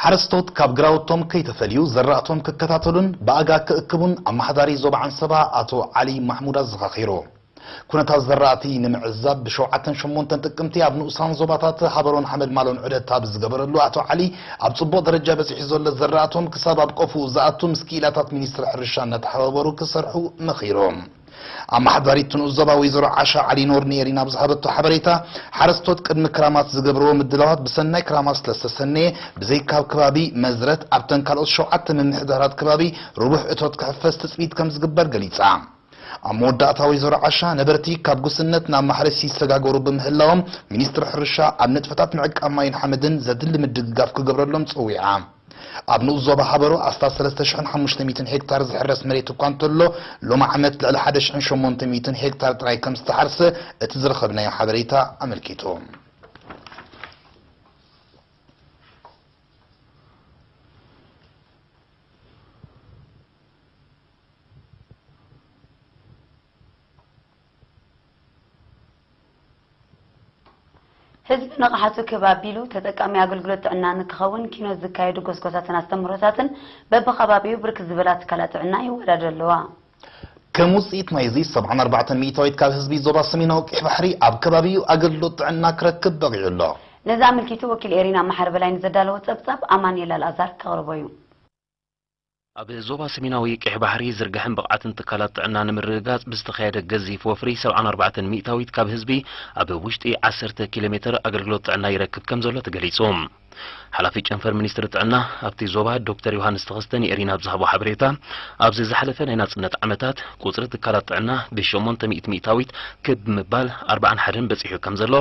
ሓረስቶት ካብ ግራውቶም ከይተፈልዩ ዘራእቶም ክከታተሉን ብኣጋ ክእክቡን ኣመሓዳሪ ዞባ ዓንሰባ ኣቶ ዓሊ ማሕሙድ ኣዘኻኺሩ። ኩነታት ዘራእቲ ንምዕዛብ ብሸውዓተን ሸሞንተን ጥቅምቲ ኣብ ንኡሳን ዞባታት ሃበሮን ሓመልማሎን ዑደት ኣብ ዝገበረሉ ኣቶ ዓሊ ኣብ ፅቡቕ ደረጃ በፂሑ ዘሎ ዘራእቶም ክሳብ ኣብ ቆፎኡ ዝኣቱ ምስ ክኢላታት ሚኒስትሪ ሕርሻ እናተሓባበሩ ክሰርሑ መኺሮም። ኣማሓዳሪት ትንኡስ ዞባ ወይዘሮ ዓሻ ዓሊ ኖር ንኤሪና ኣብ ዝሃበቶ ሓበሬታ፣ ሓረስቶት ቅድሚ ክራማት ዝገብርዎ ምድላዋት ብሰናይ ክራማት ስለዝተሰነየ ብዘይካ ኣብ ከባቢ መዝረት ኣብተን ካልኦት ሸውዓተ ምምሕዳራት ከባቢ ርቡሕ እቶት ክሕፈስ ትፅቢት ከምዝግበር ገሊፃ። ኣብ መወዳእታ ወይዘሮ ዓሻ፣ ነበርቲ ካብ ጉስነት ናብ ማሕረስ ይሰጋገሩ ብምህላዎም ሚኒስትሪ ሕርሻ ኣብ ንጥፈታት ምዕቃብ ማይን ሓመድን ዘድሊ ምድግጋፍ ክገብረሎም ፀዊዓ። ኣብ ንኡስ ዞባ ሃበሮ ኣስታት ሰለስተ ሽሕን ሓሙሽተ ሚእትን ሄክታር ዝሕረስ መሬት እኳ እንተሎ፣ ሎሚ ዓመት ልዕሊ ሓደ ሽሕን ሸሞንተ ሚእትን ሄክታር ጥራይ ከምዝተሓርሰ እቲ ዝረኸብናዮ ሓበሬታ ኣመልኪቱ። ህዝቢ ንቕሓቱ ክብ ኣቢሉ ተጠቃሚ ኣገልግሎት ጥዕና ንክኸውን ኪኖት ዝካየዱ ጎስጓሳትን ኣስተምህሮታትን በቢከባቢኡ ብርክት ዝበላ ትካላት ጥዕና ይወዳደሩ ኣለዋ። ከም ውፅኢት ናይዚ ሰብዓን ኣርባዕተን ሚኢታዊት ካብ ህዝቢ ዞባ ሰሜናዊ ቀይሕ ባሕሪ ኣብ ከባቢኡ ኣገልግሎት ጥዕና ክረክብ በቒዑ ኣሎ። ነዚ ኣመልኪቱ ወኪል ኤሪና መሓሪ በላይ ንዘዳለዎ ፀብፃብ ኣማኒኤል ኣልኣዛር ከቕርቦ እዩ። ኣብ ዞባ ሰሜናዊ ቀይሕ ባሕሪ ዝርጋሐን ብቕዓትን ትካላት ጥዕና ንምርግጋጽ ብዝተኻየደ ገዚፍ ወፍሪ ሰብዓን ኣርባዕተን ሚእታዊት ካብ ህዝቢ ኣብ ውሽጢ ዓሰርተ ኪሎ ሜተር ኣገልግሎት ጥዕና ይረክብ ከምዘሎ ተገሊጹ። ሓላፊ ጨንፈር ሚኒስትሪ ጥዕና ኣብቲ ዞባ ዶክተር ዮሃንስ ተኸስተ ንኤሪና ኣብ ዝሃቦ ሓበሬታ ኣብዚ ዝሓለፈ ናይ ናጽነት ዓመታት ቁጽሪ ትካላት ጥዕና ብሸሞንተ ሚእቲ ሚእታዊት ክብ ብምባል ኣርብዓን ሓደን በጺሑ ከምዘሎ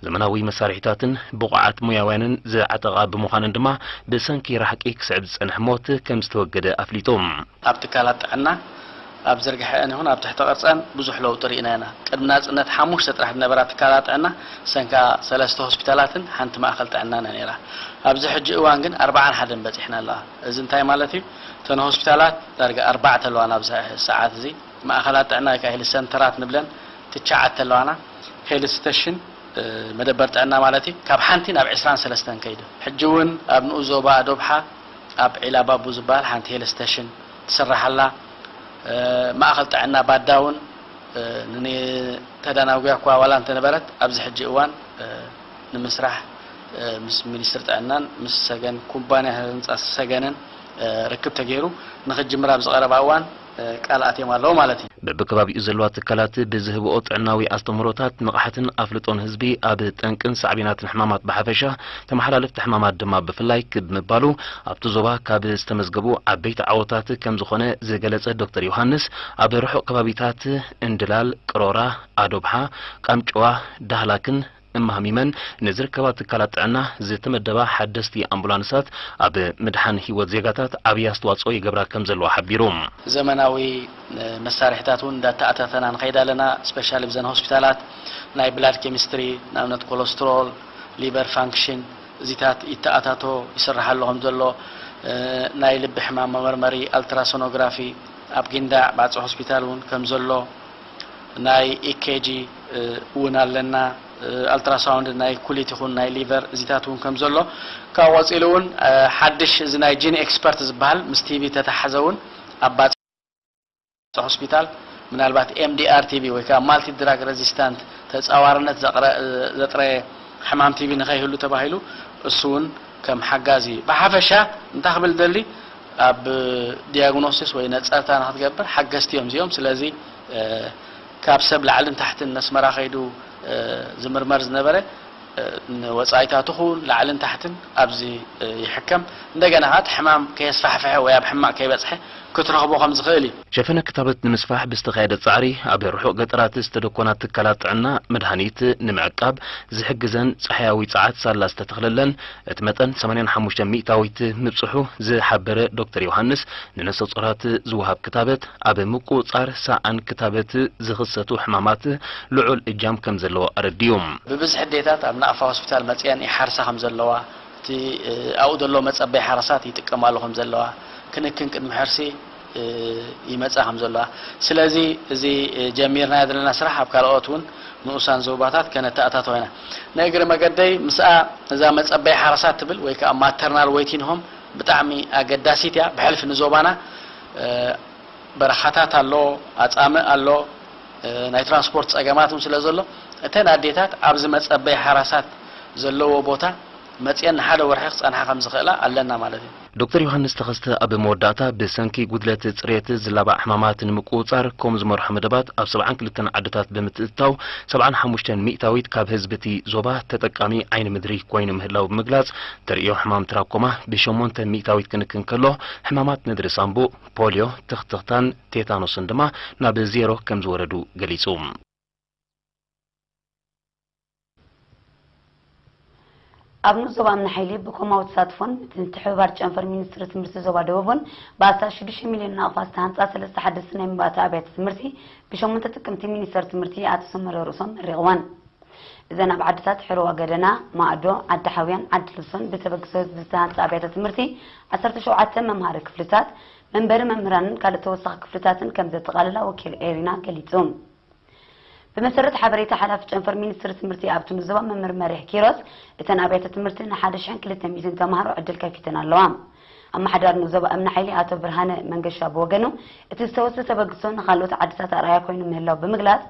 ዘመናዊ መሳርሒታትን ብቑዓት ሞያውያንን ዝዓጠቓ ብምዃነን ድማ ብሰንኪ ራሕቂ ክስዕብ ዝጸንሐ ሞት ከም ዝተወገደ ኣፍሊጡ። ኣብ ትካላት ጥዕና፣ ኣብ ዝርግሐኣን ይኹን ኣብ ትሕተ ቅርጸን ብዙሕ ለውጢ ርኢና ኢና። ቅድሚ ናጽነት ሓሙሽተ ጥራሕ ዝነበራ ትካላት ጥዕና ሰንካ ሰለስተ ሆስፒታላትን ሓንቲ ማእከል ጥዕናን እያ ነይራ። ኣብዚ ሕጂ እዋን ግን ኣርብዓን ሓደን በጺሕና ኣለዋ። እዚ እንታይ ማለት እዩ? እተን ሆስፒታላት ዳርጋ ኣርባዕተ ኣለዋ ናብዚ ሰዓት እዚ። ማእከላት ጥዕና ወይ ከኣ ሄልዝ ሰንተራት ንብለን፣ ትቻዓተ ኣለዋና ሄልስ ስተሽን መደበር ጥዕና ማለት እዩ ካብ ሓንቲ ናብ ዕስራን ሰለስተን ከይዱ ሕጂ እውን ኣብ ንኡስ ዞባ ኣዶብሓ ኣብ ዒላ ባቡ ዝበሃል ሓንቲ ሄልስ ስተሽን ትስራሕ ኣላ ማእኸል ጥዕና ባዳ እውን ንተዳናጉያ እኳ ዋላ እንተነበረት ኣብዚ ሕጂ እዋን ንምስራሕ ምስ ሚኒስትሪ ጥዕናን ምስ ሰገን ኩባንያ ህንፃ ሰገንን ርክብ ተገይሩ ንኽጅምር ኣብዚ ቀረባ እዋን ቃል ኣትዮም ኣለዉ ማለት እዩ። በብከባቢኡ ዘለዋ ትካላት ብዝህብኦ ጥዕናዊ ኣስተምህሮታት፣ ንቕሓትን ኣፍልጦን ህዝቢ ኣብ ጠንቅን ሳዕቤናትን ሕማማት ብሓፈሻ፣ ተመሓላለፍቲ ሕማማት ድማ ብፍላይ ክብ ምባሉ ኣብቲ ዞባ ካብ ዝተመዝገቡ ዓበይቲ ዓወታት ከምዝኾነ ዝገለፀ ዶክተር ዮሃንስ፣ ኣብ ርሑቕ ከባቢታት እንድላል፣ ቅሮራ፣ ኣዶብሓ፣ ቃምጨዋ፣ ዳህላክን እማህሚመን ንዝርከባ ትካላት ጥዕና ዝተመደባ ሓደስቲ ኣምቡላንሳት ኣብ ምድሓን ህይወት ዜጋታት ዓብዪ ኣስተዋፅኦ ይገብራ ከምዘለዋ ሓቢሩ። ዘመናዊ መሳርሒታት እውን እንዳተኣታተና ንኸይድ ኣለና። ስፔሻሊ ብዘን ሆስፒታላት ናይ ብላድ ኬሚስትሪ ንኣብነት ኮሎስትሮል፣ ሊቨር ፋንክሽን እዚታት ይተኣታቶ ይስረሓሉ ከምዘሎ፣ ናይ ልቢ ሕማም መመርመሪ ኣልትራሶኖግራፊ ኣብ ጊንዳዕ ባጽዕ ሆስፒታል እውን ከምዘሎ፣ ናይ EKG እውን ኣለና ኣልትራሳውንድ ናይ ኩሊት ይኹን ናይ ሊቨር እዚታት እውን ከም ዘሎ ካብኡ ቀፂሉ እውን ሓድሽ እዚ ናይ ጂን ኤክስፐርት ዝብሃል ምስ ቲቢ ተተሓዘ እውን ኣብ ባፅዕ ሆስፒታል ምናልባት MDR ቲቢ ወይ ከዓ ማልቲ ድራግ ረዚስታንት ተፃዋርነት ዘጥረየ ሕማም ቲቢ ንከይህሉ ተባሂሉ እሱ እውን ከም ሓጋዚ ብሓፈሻ እንታይ ክብል እደሊ ኣብ ዲያግኖሲስ ወይ ነፀርታ ንክትገብር ሓገዝቲ እዮም እዚኦም። ስለዚ ካብ ሰብ ላዕልን ታሕትን ነስመራ ከይዱ ዝምርመር ዝነበረ ንወፃኢታቱ ክዉን ላዕልን ታሕትን ኣብዚ ይሕከም። እንደገና ከዓ እቲ ሕማም ከየስፋሕፈሐ ወይ ኣብ ሕማቕ ከይበፅሐ ክትረኽቦ ከምዝኽእል እዩ። ሸፈነ ክታበት ንምስፋሕ ብዝተኻየደ ፃዕሪ ኣብ ርሑቕ ገጠራት ዝተደኮና ትካላት ጥዕና መድሃኒት ንምዕቃብ ዝሕግዘን ፀሓያዊ ፀዓት ሳላ ዝተተኽለለን እቲ መጠን ሰማንያን ሓሙሽተን ሚእታዊት ምብጽሑ ዝሓበረ ዶክተር ዮሃንስ፣ ንነፍሰጾራት ዝወሃብ ክታበት፣ ኣብ ምቁጽጻር ሰኣን ክታበት ዝኽሰቱ ሕማማት ልዑል እጃም ከም ዘለዎ ኣረዲኡ። ብብዝሒ ኣዴታት ኣብ ናቕፋ ሆስፒታል መጺኤን ይሓርሳ ከም ዘለዋ፣ እቲ ኣብኡ ዘሎ መጸበዪ ሓራሳት ይጥቀማሉ ከም ዘለዋ፣ ክንክን ቅድሚ ሕርሲ፣ ይመጽኣ ከም ዘለዋ ስለዚ እዚ ጀሚርናዮ ዘለና ስራሕ ኣብ ካልኦት ውን ንኡሳን ዞባታት ከነተኣታቶ ኢና ንእግሪ መገደይ ምስኣ እዛ መጸበይ ሓረሳት ትብል ወይ ከኣ ማተርናል ወይቲን ሆም ብጣዕሚ ኣገዳሲት እያ ብሕልፊ ንዞባና በረኻታት ኣሎ ኣጻምእ ኣሎ ናይ ትራንስፖርት ጸገማት ውን ስለ ዘሎ እተን ኣዴታት ኣብዚ መጸበይ ሓራሳት ዘለዎ ቦታ መጽየን ንሓደ ወርሒ ክጸንሓ ከም ዝኽእላ ኣለና ማለት እዩ። ዶክተር ዮሃንስ ተኸስተ ኣብ መወዳእታ ብሰንኪ ጉድለት ፅሬት ዝላባዕ ሕማማት ንምቁፅፃር ኮም ዝመርሖ መደባት ኣብ ሰብዓን ክልተን ዓድታት ብምትእትታው ሰብዓን ሓሙሽተን ሚእታዊት ካብ ህዝቢ እቲ ዞባ ተጠቃሚ ዓይኒ ምድሪ ኮይኑ ምህላው ብምግላፅ ተርእዮ ሕማም ትራኮማ ብሸሞንተ ሚእታዊት ክንክን ከሎ ሕማማት ነድሪ ሳምቡእ፣ ፖልዮ፣ ትኽትኽታን ቴታኖስን ድማ ናብ ዜሮ ከምዝወረዱ ገሊፁ። ኣብ ንኡስ ዞባ ኣምነ ሓይሊ ብኮማዊ ተሳትፎን ምትሕብባር ጨንፈር ሚኒስትሪ ትምህርቲ ዞባ ደቡብን ብኣስታት ሽዱሽተ ሚልዮን ናቕፋ ዝተሃንፃ ሰለስተ ሓደስቲ ናይ መባእታ ኣብያተ ትምህርቲ ብሸሞንተ ጥቅምቲ ሚኒስተር ትምህርቲ ኣቶ ሰመረ ርእሶም መሪቕወን። እዘን ኣብ ዓድታት ሕርዋ ገደና፣ ማእዶ፣ ዓዲ ሓውያን ዓዲ ልብሶን ብተበግሶ ህዝቢ ዝተሃንፃ ኣብያተ ትምህርቲ ዓሰርተ ሸውዓተ መምሃሪ ክፍልታት፣ መንበሪ መምህራንን ካልእ ተወሳኺ ክፍልታትን ከምዘጠቓልላ ወኪል ኤሪና ገሊፁ። ብመሰረት ሓበሬታ ሓላፊ ጨንፈር ሚኒስትሪ ትምህርቲ ኣብቲ ምዝባ መምህር መሪሕ ኪሮስ፣ እተን ኣብያተ ትምህርቲ ንሓደ ሽሕን ክልተ ሚእትን ተምሃሮ ዕድል ከፊተን ኣለዋ። ኣመሓዳሪ ን ዞባ እምኒ ሓይሊ ኣቶ ብርሃነ መንገሻ ብወገኑ፣ እቲ ዝተወስደ ተበግሶ ንኻልኦት ዓድታት ኣርኣያ ኮይኑ ምህላው ብምግላፅ፣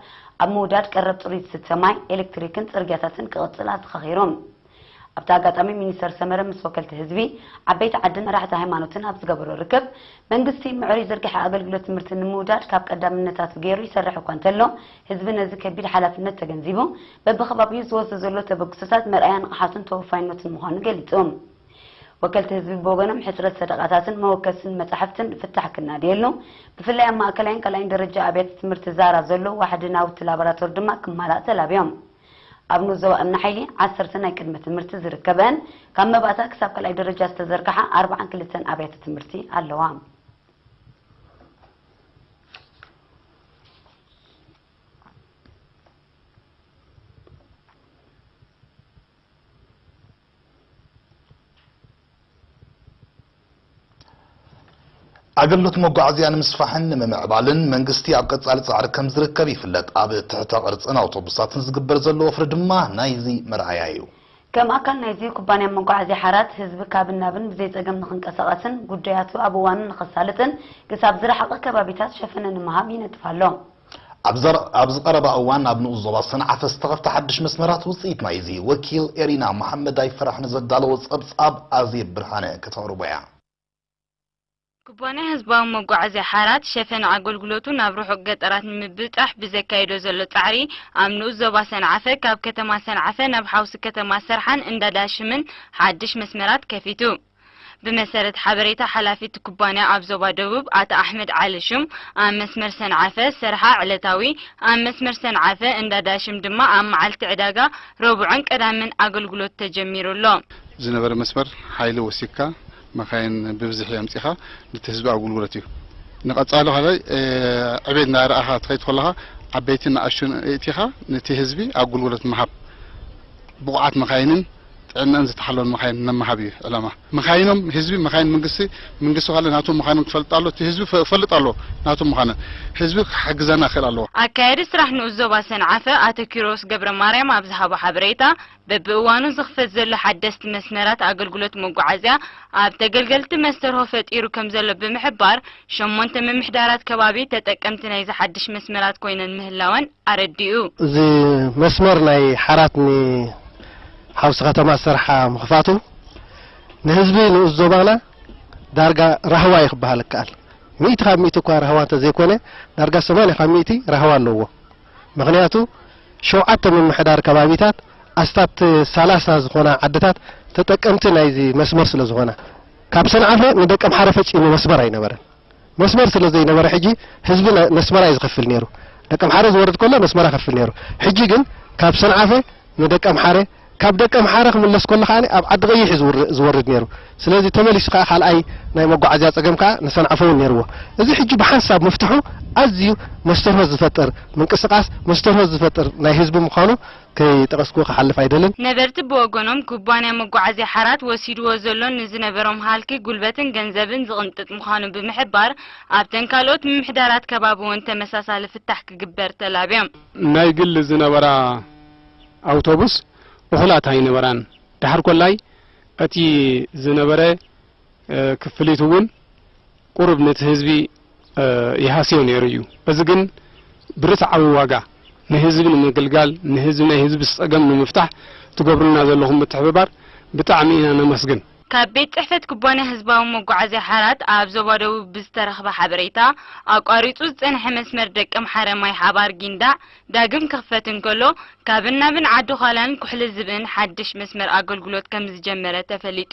ኣብ ምውዳድ ቀረብ ፅሩይ ዝስተ ማይ፣ ኤሌክትሪክን ፅርግያታትን ክቕፅል ኣዘኻኺሩ። ኣብቲ ኣጋጣሚ ሚኒስተር ሰመረ ምስ ወከልቲ ህዝቢ፣ ዓበይቲ ዓድን መራሕቲ ሃይማኖትን ኣብ ዝገበሮ ርክብ፣ መንግስቲ ምዕሩይ ዝርግሐ ኣገልግሎት ትምህርቲ ንምውዳድ ካብ ቀዳምነታቱ ገይሩ ይሰርሕ እኳ እንተሎ፣ ህዝቢ ነዚ ከቢድ ሓላፍነት ተገንዚቡ በብከባቢኡ ዝወስዶ ዘሎ ተበግሶታት መርኣያ ንቕሓቱን ተወፋይነቱን ምዃኑ ገሊጹ። ወከልቲ ህዝቢ ብወገኖም ሕጽረት ሰደቓታትን መወከስን መጻሕፍትን ፍታሕ ክናደየሉ፣ ብፍላይ ኣብ ማእከላይን ካልኣይን ደረጃ ኣብያተ ትምህርቲ ዛራ ዘሎ ዋሕዲ ናውቲ ላቦራቶሪ ድማ ክማላእ ተላብዮም። ኣብ ንኡስ ዞባ እምኒ ሓይሊ ዓሰርተ ናይ ቅድመ ትምህርቲ ዝርከበን ካብ መባእታ ክሳብ ካልኣይ ደረጃ ዝተዘርግሓ ኣርብዓን ክልተን ኣብያተ ትምህርቲ ኣለዋ። ኣገልግሎት መጓዓዝያ ንምስፋሕን ንምምዕባልን መንግስቲ ኣብ ቀፃሊ ፃዕሪ ከምዝርከብ ይፍለጥ። ኣብ ትሕተ ቅርፅን ኣውቶቡሳትን ዝግበር ዘሎ ወፍሪ ድማ ናይዚ መርኣያ እዩ። ከም ኣካል ናይዚ ኩባንያ መጓዓዝያ ሓራት ህዝቢ ካብን ናብን ብዘይፀገም ንክንቀሳቐስን ጉዳያቱ ኣብ እዋኑ ንከሳልጥን ክሳብ ዝረሓቐ ከባቢታት ሸፈነ ንምሃብ ይነጥፍ ኣሎ። ኣብዚ ቀረባ እዋን ኣብ ንኡስ ዞባ ሰንዓፈ ዝተኸፍተ ሓድሽ መስመራት ውፅኢት ናይዚ ወኪል ኤሪና መሓመድ ኣይፈራሕ ንዘዳለዎ ፀብፃብ ኣዜብ ብርሃነ ከተቕርቦ እያ። ኩባንያ ህዝባዊ መጓዓዝያ ሓራት ሸፈን ኣገልግሎቱ ናብ ርሑቕ ገጠራት ንምብፃሕ ብዘካይዶ ዘሎ ፃዕሪ ኣብ ንኡስ ዞባ ሰንዓፈ ካብ ከተማ ሰንዓፈ ናብ ሓውሲ ከተማ ሰርሓን እንዳ ዳሽምን ሓድሽ መስመራት ከፊቱ። ብመሰረት ሓበሬታ ሓላፊ እቲ ኩባንያ ኣብ ዞባ ደቡብ ኣቶ ኣሕመድ ዓሊ ሹም ኣብ መስመር ሰንዓፈ ሰርሓ ዕለታዊ ኣብ መስመር ሰንዓፈ እንዳ ዳሽም ድማ ኣብ መዓልቲ ዕዳጋ ረቡዕን ቀዳምን ኣገልግሎት ተጀሚሩ ኣሎ። ዝነበረ መስመር ሓይሊ ወሲክካ መካይን ብብዝሒ ኣምጺኻ ነቲ ህዝቢ ኣጉልጉለት እዩ። ንቀጻሊ ካልኣይ ዕቤት እንዳረኣኻ ትኸይድ ከለኻ ዓበይትን ንኣሽቱን የእቲኻ ነቲ ህዝቢ ኣጉልጉለት ምሃብ ብቁዓት መካይንን ጥዕነኣን ዝተሓለወን መኻይን ነመሃብ እዩ ዕላማ መኻይኖም ህዝቢ መኻይን መንግስቲ መንግስቲ ካለ ናቱ ምዃኖም ክፈልጥ ኣሎ እቲ ህዝቢ ክፈልጥ ኣለዎ ናቱ ምዃነን ህዝቢ ክሓግዘና ክክእል ኣለዎ። ኣካያዲ ስራሕ ንኡስ ዞባ ሰንዓፈ ኣቶ ኪሮስ ገብረማርያም ኣብ ዝሃቦ ሓበሬታ፣ በብእዋኑ ዝኽፈት ዘሎ ሓደስቲ መስመራት ኣገልግሎት መጓዓዝያ ኣብ ተገልገልቲ መስተርሆ ፈጢሩ ከምዘሎ ብምሕባር፣ ሸሞንተ ምምሕዳራት ከባቢ ተጠቀምቲ ናይዚ ሓድሽ መስመራት ኮይነን ምህላወን ኣረዲኡ። እዚ መስመር ናይ ሓራት ን ሓውሲ ከተማ ሰርሓ ምኽፋቱ ንህዝቢ ንኡስ ዞባና ዳርጋ ራህዋ እዩ ክበሃል ይከኣል። ሚእቲ ካብ ሚእቲ እኳ ራህዋ እንተዘይኮነ ዳርጋ ሰማንያ ካብ ሚእቲ ራህዋ ኣለዎ። ምኽንያቱ ሸውዓተ ምምሕዳር ከባቢታት ኣስታት ሰላሳ ዝኾና ዓድታት ተጠቀምቲ ናይዚ መስመር ስለዝኾና። ካብ ሰንዓፈ ንደቀምሓረ ፈጺሙ መስመር ኣይነበረን። መስመር ስለ ዘይነበረ ሕጂ ህዝቢ ነስመራ እዩ ዝኸፍል ነይሩ ደቀምሓረ ዝወርድ ከሎ ነስመራ ከፍል ነይሩ ሕጂ ግን ካብ ሰንዓፈ ንደቀምሓረ ካብ ደቀምሓረ ክምለስ ከሎ ከኣ ኣብ ዓዲ ቀይሕ እዩ ዝወርድ ነይሩ ስለዚ ተመሊሱ ከኣ ካልኣይ ናይ መጓዓዝያ ጸገም ከኣ ንሰንዓፈ እውን ነይርዎ እዚ ሕጂ ብሓንሳብ ምፍትሑ ኣዝዩ መስተርሆት ዝፈጥር ምንቅስቃስ መስተርሆት ዝፈጥር ናይ ህዝቢ ምዃኑ ከይጠቐስኩ ክሓልፍ ኣይደልን። ነበርቲ ብወገኖም፣ ኩባንያ መጓዓዝያ ሓራት ወሲድዎ ዘሎ ንዝነበሮም ሃልኪ ጉልበትን ገንዘብን ዝቕንጥጥ ምዃኑ ብምሕባር፣ ኣብተን ካልኦት ምምሕዳራት ከባቢ እውን ተመሳሳሊ ፍታሕ ክግበር ተላብዮም። ናይ ግሊ ዝነበራ ኣውቶቡስ እኹላት ኣይነበራን። ደሓር ኮላይ እቲ ዝነበረ፣ ክፍሊት እውን ቁሩብ ነቲ ህዝቢ ይሃስዮ ነይሩ እዩ። እዚ ግን ብርትዓዊ ዋጋ ንህዝቢ ንምግልጋል ንህዝቢ ናይ ህዝቢ ፀገም ንምፍታሕ ትገብሩልና ዘለኹም ምትሕብባር ብጣዕሚ ኢና ነመስግን። ካብ ቤት ፅሕፈት ኩባንያ ህዝባዊ መጓዓዝያ ሓራት ኣብ ዞባ ደቡብ ብዝተረኽበ ሓበሬታ ኣቋሪፁ ዝፀንሐ መስመር ደቀምሓረ ማይሓባር ጊንዳዕ ዳግም ክኽፈት እንከሎ፣ ካብን ናብን ዓዲ-ዃላን ኩሕሊ-ዝብእን ሓድሽ መስመር ኣገልግሎት ከምዝጀመረ ተፈሊጡ።